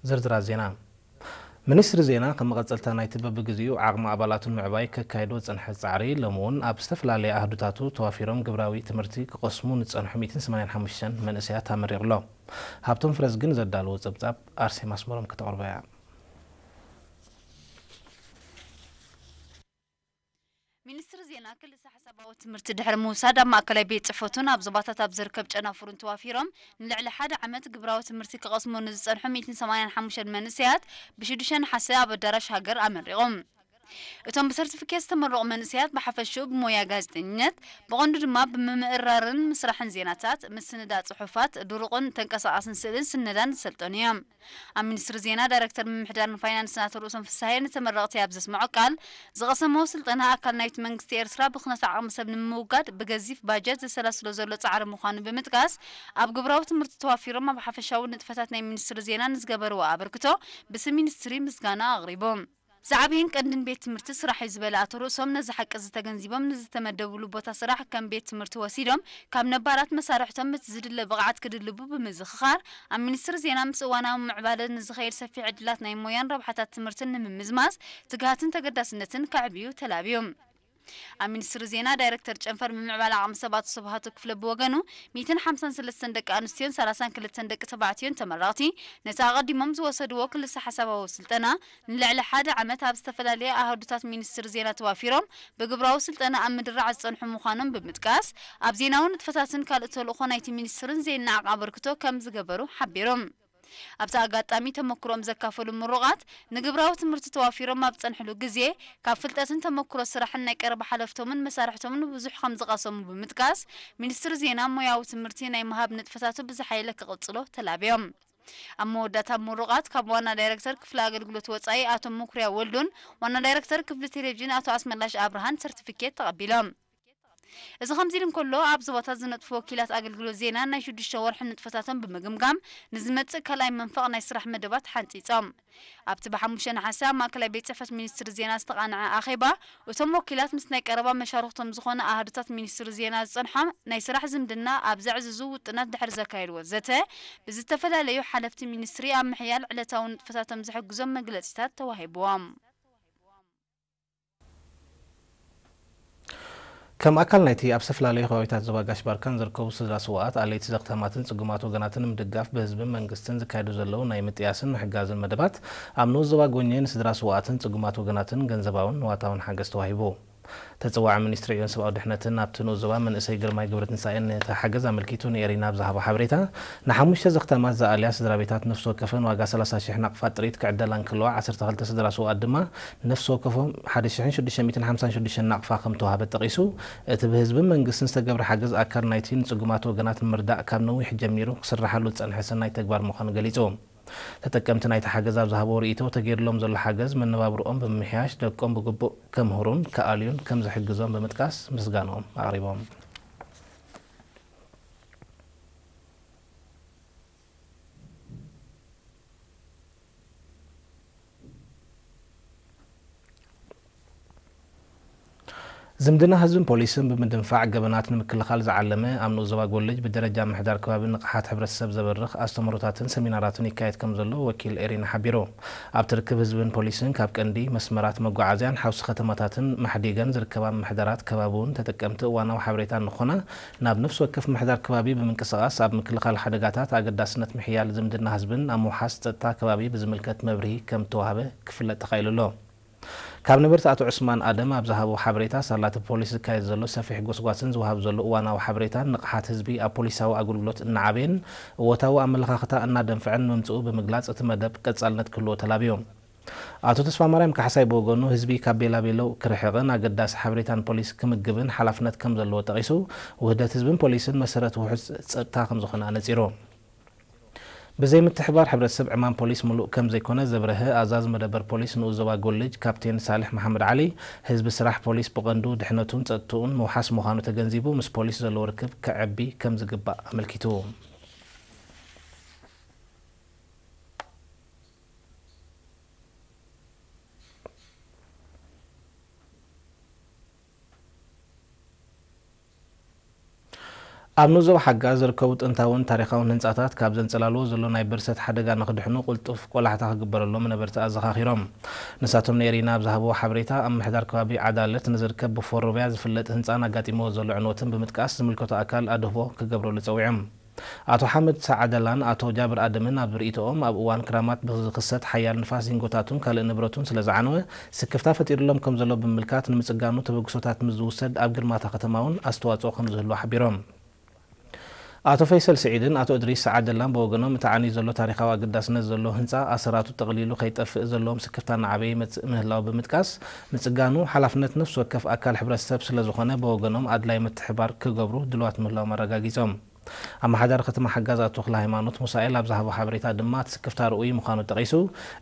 ዝርዝራት ዜና፣ ሚኒስትሪ ዜና ከም መቐጸልታ ናይቲ በብግዜኡ ዓቕሚ ኣባላቱ ንምዕባይ ከካይዶ ዝጸንሐ ጻዕሪ፣ ሎሚ'ውን ኣብ ዝተፈላለየ ኣሃዱታቱ ተዋፊሮም ግብራዊ ትምህርቲ ክቐስሙ ንዝጸንሑ ሚእትን ሰማንያን ሓሙሽተን መንእሰያት ኣመሪቑ'ሎ። ሃብቶም ፍረዝግን ዘዳለዎ ጸብጻብ ኣርሴማ ኣስመሮም ከተቕርቦ'ያ። ሚኒስትሪ ዜና ክልሰ-ሓሳባዊ ትምህርቲ ድሕሪ ምውሳድ ኣብ ማእከላይ ቤት ጽሕፈቱን ኣብ ዞባታት ኣብ ዝርከብ ጨናፍሩን ተዋፊሮም ንልዕሊ ሓደ ዓመት ግብራዊ ትምህርቲ ክቐስሙ ንዝጸንሑ ሚእትን ሰማንያን ሓሙሽተን መንእሰያት ብሽዱሽተ ነሓሰ ኣብ ኣዳራሽ ሃገር ኣመሪቖም። እቶም ብሰርቲፊኬት ዝተመረቑ መንእሰያት ብሓፈሽኡ ብሞያ ጋዜጠኝነት፣ ብቐንዱ ድማ ብምምእርራርን ምስራሕን ዜናታት፣ ምስንዳእ ጽሑፋት፣ ድሩቕን ተንቀሳቓስን ስእልን ስነዳን ዝሰልጠኑ እዮም። ኣብ ሚኒስትሪ ዜና ዳይረክተር ምምሕዳርን ፋይናንስን ኣቶ ርእሶም ፍስሃየ ንተመረቕቲ ኣብ ዘስመዖ ቃል፣ ዝቐሰምዎ ስልጠና ኣካል ናይቲ መንግስቲ ኤርትራ ብኽነት ዓቕሚ ሰብ ንምውጋድ ብገዚፍ ባጀት ዘሰላስሎ ዘሎ ጻዕሪ ምዃኑ ብምጥቃስ፣ ኣብ ግብራዊ ትምህርቲ ተዋፊሮም ኣብ ሓፈሻዊ ንጥፈታት ናይ ሚኒስትሪ ዜና ንዝገበርዎ ኣበርክቶ ብስም ሚኒስትሪ ምስጋና ኣቕሪቦም። ዝዓበየን ቀንድን ቤት ትምህርቲ ስራሕ'ዩ ዝበለ ኣቶ ርእሶም፣ ነዚ ሓቂ'ዚ ተገንዚቦም ንዝተመደብሉ ቦታ ስራሕ ከም ቤት ትምህርቲ ወሲዶም ካብ ነባራት መሳርሕቶም እቲ ዝድለ ብቕዓት ክድልቡ ብምዝኽኻር፣ ኣብ ሚኒስትሪ ዜና ምስ እዋናዊ ምዕባለ ንዝኸይድ ሰፊሕ ዕድላት ናይ ሞያን ረብሓታት ትምህርትን ንምምዝማዝ ትግሃትን ተገዳስነትን ከዕብዩ ተላብዩ። ኣብ ሚኒስትሪ ዜና ዳይረክተር ጨንፈር ምምዕባል ዓቕሚ ሰብ ኣቶ ስብሃቱ ክፍለ ብወገኑ፣ ሚእትን ሓምሳን ሰለስተን ደቂ ኣንስትዮን ሰላሳን ክልተን ደቂ ተባዕትዮን ተመረቕቲ ነቲ ኣቐዲሞም ዝወሰድዎ ክልሰ-ሓሳባዊ ስልጠና ንልዕሊ ሓደ ዓመት ኣብ ዝተፈላለየ ኣሃዱታት ሚኒስትሪ ዜና ተዋፊሮም ብግብራዊ ስልጠና ኣብ ምድራዕ ዝጸንሑ ምዃኖም ብምጥቃስ ኣብ ዜናዊ ንጥፈታትን ካልእ ተልእኾ ናይቲ ሚኒስትርን ዜናዕ ኣበርክቶ ከምዝገበሩ ሓቢሩ። ኣብቲ ኣጋጣሚ ተመክሮኦም ዘካፈሉ ምሩቓት፣ ንግብራዊ ትምህርቲ ተዋፊሮም ኣብ ዝጸንሕሉ ግዜ፣ ካብ ፍልጠትን ተመክሮ ስራሕን ናይ ቀረባ ሓለፍቶምን መሳርሕቶምን ብዙሕ ከም ዝቐሰሙ ብምጥቃስ፣ ሚኒስትሪ ዜና ሞያዊ ትምህርቲ ናይ ምሃብ ንጥፈታቱ ብዝሓየለ ክቕጽሎ ተላብዮም። ኣብ መወዳእታ ምሩቓት ካብ ዋና ዳይረክተር ክፍሊ ኣገልግሎት ወጻኢ ኣቶ መኩርያ ወልዱን ዋና ዳይረክተር ክፍሊ ቴሌቭዥን ኣቶ ኣስመላሽ ኣብርሃን ሰርቲፊኬት ተቐቢሎም። እዚ ከምዚ'ሉ እንከሎ፣ ኣብ ዞባታት ዝነጥፉ ወኪላት ኣገልግሎት ዜና ናይ ሽዱሽተ ወርሒ ንጥፈታቶም ብምግምጋም ንዝመጽእ ካልኣይ መንፈቕ ናይ ስራሕ መደባት ሓንጺጾም። ኣብቲ ብሓሙሽተ ነሓሰ ኣብ ማእከላይ ቤት ጽሕፈት ሚኒስትሪ ዜና ዝተቓንዐ ኣኼባ፣ እቶም ወኪላት ምስ ናይ ቀረባ መሻርኽቶም ዝኾነ ኣሃዱታት ሚኒስትሪ ዜና ዝጸንሖም ናይ ስራሕ ዝምድና ኣብ ዘዕዝዙ ውጥናት ድሕሪ ዘካየድዎ ዘተ ብዝተፈላለዩ ሓለፍቲ ሚኒስትሪ ኣብ ምሕያል ዕለታዊ ንጥፈታቶም ዝሕግዞም መግለጺታት ተዋሂብዎም። ከም ኣካል ናይቲ ኣብ ዝተፈላለዩ ከባቢታት ዞባ ጋሽ-ባርካን ዝርከቡ ስድራ ስዉኣት፣ ኣለይቲ ዘኽታማትን ጽጉማት ወገናትን ንምድጋፍ ብህዝብን መንግስትን ዝካየዱ ዘለዉ ናይ ምጥያስን ምሕጋዝን መደባት፣ ኣብ ንኡስ ዞባ ጎኘ ንስድራ ስዉኣትን ጽጉማት ወገናትን ገንዘባውን ንዋታውን ሓገዝ ተዋሂቡ። ተጸዋዒ ሚኒስትሪ ዕዮን ሰብኣዊ ድሕነትን ኣብቲ ንኡስ ዞባ መንእሰይ ግርማይ ገብረትንሳኤ ነቲ ሓገዝ ኣመልኪቱ ንኤሪና ኣብ ዝሃቦ ሓበሬታ፣ ንሓሙሽተ ዘኽታማት ዝኣልያ ስድራቤታት ነፍሲ ወከፈን ዋጋ ሰላሳ ሽሕ ናቕፋ ጥሪት ክዕደላ እንከለዋ ዓሰርተ ክልተ ስድራ ስዉኣት ድማ ነፍሲ ወከፎም ሓደ ሽሕን ሽዱሽተ ሚእትን ሓምሳን ሽዱሽተን ናቕፋ ከምተዋህበ ጠቒሱ፣ እቲ ብህዝብን መንግስትን ዝተገብረ ሓገዝ ኣካል ናይቲ ንጽጉማት ወገናት ንምርዳእ ካብ ነዊሕ ጀሚሩ ክስራሓሉ ዝጸንሐ ሰናይ ተግባር ምዃኑ ገሊጹ። ተጠቀምቲ ናይቲ ሓገዝ ኣብ ዝሃብዎ ርእይቶ፣ ተገይርሎም ዘሎ ሓገዝ መነባብርኦም ብምምሕያሽ ደቆም ብግቡእ ከምህሩን ክኣልዩን ከምዝሕግዞም ብምጥቃስ ምስጋንኦም ኣቕሪቦም። ዝምድና ህዝብን ፖሊስን ብምድንፋዕ ገበናት ንምክልኻል ዝዓለመ ኣብ ንኡስ ዞባ ጎልጅ ብደረጃ ምሕዳር ከባቢ ንቕሓት ሕብረተሰብ ዘበርኽ ኣስተምህሮታትን ሰሚናራትን ይካየድ ከምዘሎ ወኪል ኤሪና ሓቢሩ። ኣብቲ ርክብ ህዝብን ፖሊስን ካብ ቀንዲ መስመራት መጓዓዝያን ሓውሲ ከተማታትን ማሕዲገን ዝርከባ ምምሕዳራት ከባቢ'ውን ተጠቀምቲ እዋናዊ ሓበሬታ ንክኾና ናብ ነፍሲ ወከፍ ምሕዳር ከባቢ ብምንቅስቓስ ኣብ ምክልኻል ሓደጋታት ኣገዳስነት ምሕያል ዝምድና ህዝብን ኣብ ምውሓስ ፀጥታ ከባቢ ብዝምልከት መብርሂ ከምተዋህበ ክፍለጥ ተኻኢሉ ኣሎ። ካብ ነበርቲ ኣቶ ዑስማን ኣደም ኣብ ዝሃብዎ ሓበሬታ ሳላ እቲ ፖሊስ ዝካየድ ዘሎ ሰፊሕ ጎስጓስን ዝወሃብ ዘሎ እዋናዊ ሓበሬታን ንቕሓት ህዝቢ ኣብ ፖሊሳዊ ኣገልግሎት እናዓበየን እወታዊ ኣመለኻኽታ እናደንፈዐን ምምፅኡ ብምግላፅ እቲ መደብ ቀፃልነት ክህልዎ ተላብዮም። ኣቶ ተስፋማርያም ካሕሳይ ብወገኑ ህዝቢ ካብ ቤላቤለው ክርሕቕን ኣገዳሲ ሓበሬታ ንፖሊስ ክምግብን ሓላፍነት ከም ዘለዎ ጠቒሱ፣ ውህደት ህዝብን ፖሊስን መሰረት ውሑስ ፀጥታ ከም ዝኾነ ኣነፂሩ። ብዘይምትሕብባር ሕብረተሰብ ዕማም ፖሊስ ሙሉእ ከም ዘይኮነ ዘብረሀ ኣዛዚ መደበር ፖሊስ ንኡስ ዞባ ጎልጅ ካፕቴን ሳልሕ መሓመድ ዓሊ፣ ህዝቢ ስራሕ ፖሊስ ብቐንዱ ድሕነቱን ፀጥትኡን ምውሓስ ምዃኑ ተገንዚቡ ምስ ፖሊስ ዘለዎ ርክብ ከዐቢ ከም ዝግባእ ኣመልኪቱ። ኣብ ኑዞ ሓጋ ዝርከቡ ጥንታውን ታሪኻውን ህንፃታት ካብ ዘንፀላልዎ ዘሎ ናይ ብርሰት ሓደጋ ንክድሕኑ ቁልጡፍ ቆላሕታ ክግበረሎም ነበርቲ ኣዘኻኺሮም። ንሳቶም ንኤሪና ኣብ ዝሃብዎ ሓበሬታ ኣብ ምምሕዳር ከባቢ ዓዳልት ንዝርከብ ብፎሮብያ ዝፍለጥ ህንፃን ኣጋጢምዎ ዘሎ ዕንወትን ብምጥቃስ ዝምልከቶ ኣካል ኣድህቦ ክገብረሉ ፀዊዖም። ኣቶ ሓምድ ሳዓደላን ኣቶ ጃብር ኣደምን ኣብ ርእይቶኦም፣ ኣብ እዋን ክራማት ብዝኽሰት ሓያል ንፋስ ዚንጎታቱን ካልእ ንብረቱን ስለዝዓነወ ስክፍታ ፈጢሩሎም ከምዘሎ ብምምልካት ንምጽጋኑ ተበግሶታት ምስ ዝውሰድ ኣብ ግርማ'ታ ከተማ'ውን ኣስተዋጽኦ ከምዝህልዎ ሓቢሮም። ኣቶ ፈይሰል ስዒድን ኣቶ እድሪስ ሳዓደላን ብወገኖም እቲ ዓንዩ ዘሎ ታሪኻዊ ኣገዳስነት ዘለዎ ህንጻ ኣሰራቱ ጠቕሊሉ ከይጠፍእ ዘለዎም ስክፍታ እናዓበየ ይመጽእ ምህላዉ ብምጥቃስ ምፅጋኑ ሓላፍነት ነፍሲ ወከፍ ኣካል ሕብረተሰብ ስለዝኾነ በወገኖም ኣድላይ ምትሕብባር ክገብሩ ድልዋት ምህላዎም ኣረጋጊፆም። ኣመሓዳሪ ከተማ ሓጋዝ ኣቶ ተክለሃይማኖት ሙሳኤል ኣብ ዝሃቦ ሓበሬታ ድማ እቲ ስክፍታ ርኡይ ምዃኑ ጠቒሱ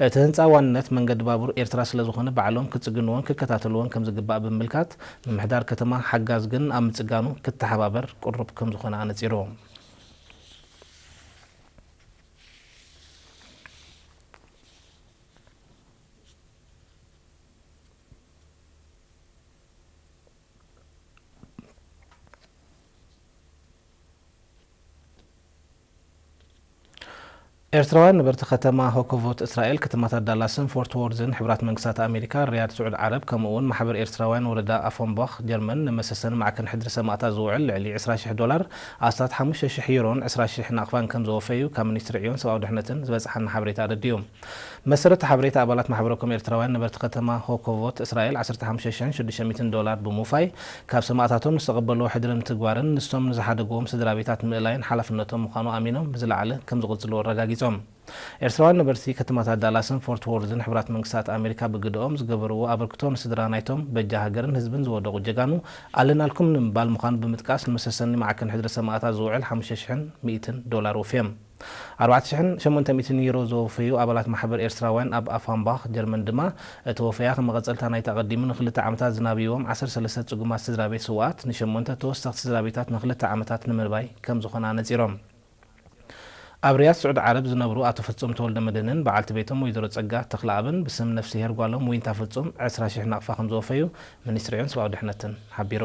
እቲ ህንፃ ዋንነት መንገዲ ባቡር ኤርትራ ስለዝኾነ ባዕሎም ክፅግንዎን ክከታተልዎን ከምዝግባእ ብምምልካት ምምሕዳር ከተማ ሓጋዝ ግን ኣብ ምፅጋኑ ክተሓባበር ቅሩብ ከምዝኾነ ኣነፂሩ። ኤርትራውያን ነበርቲ ከተማ ሆኮቮት እስራኤል ከተማታት ዳላስን ፎርት ዎርዝን ሕብራት መንግስታት ኣሜሪካ ሪያድ ስዑድ ዓረብ ከምኡ'ውን ማሕበር ኤርትራውያን ወረዳ ኣፎምቦኽ ጀርመን ንመሰሰኒ ማዕከን ሕድሪ ሰማእታት ዝውዕል ልዕሊ ዕስራ ሽሕ ዶላር ኣስታት ሓሙሽተ ሽሕ ዩሮን ዕስራ ሽሕ ናቕፋን ከምዘወፈዩ ካብ ሚኒስትሪ ዕዮን ሰብኣዊ ድሕነትን ዝበጽሓና ሓበሬታ ኣረዲኡ። ብመሰረት ሓበሬታ ኣባላት ማሕበረኮም ኤርትራውያን ነበርቲ ከተማ ሆኮቮት እስራኤል ዓሰርተ ሓሙሽተ ሽሕን ሽዱሽተ ሚእትን ዶላር ብምውፋይ ካብ ሰማእታቶም ዝተቐበልዎ ሕድሪ ምትግባርን ንሶም ንዝሓደግዎም ስድራቤታት ምእላይን ሓላፍነቶም ምዃኑ ኣሚኖም ብዝለዓለ ከምዝቕጽልዎ ኣረጋጊጾም። ኤርትራውያን ነበርቲ ከተማታት ዳላስን ፎርት ዎርዝን ሕቡራት መንግስታት ኣሜሪካ ብግደኦም ዝገበርዎ ኣበርክቶ ንስድራ ናይቶም በጃ ሃገርን ህዝብን ዝወደቑ ጀጋኑ ኣለናልኩም ንምባል ምዃኑ ብምጥቃስ ንመሰሰኒ ማዕከን ሕድሪ ሰማእታት ዝውዕል ሓሙሽተ ሽሕን ሚእትን ዶላር ወፍየም። ኣርባዕተ ሽሕን ሸሞንተ ሚእትን ዩሮ ዘወፈዩ ኣባላት ማሕበር ኤርትራውያን ኣብ ኣፋምባኽ፣ ጀርመን ድማ፣ እቲ ወፈያ ከም መቐጸልታ ናይቲ ኣቐዲሙ ንኽልተ ዓመታት ዝናብዩዎም ዓሰርተ ሰለስተ ጽጉማት ስድራቤት ስውኣት ንሸሞንተ ተወሰኽቲ ስድራቤታት ንኽልተ ዓመታት ንምርባይ ከም ዝኾነ ኣነጺሮም። ኣብ ሪያድ ስዑዲ ዓረብ ዝነብሩ ኣቶ ፍጹም ተወልደመድህንን በዓልቲ ቤቶም ወይዘሮ ጸጋ ተኽለኣብን ብስም ነፍስሄር ጓሎም ዊንታ ፍጹም ዕስራ ሽሕ ናቕፋ ከም ዘወፈዩ ሚኒስትሪ ዕዮን ሰብኣዊ ድሕነትን ሓቢሩ።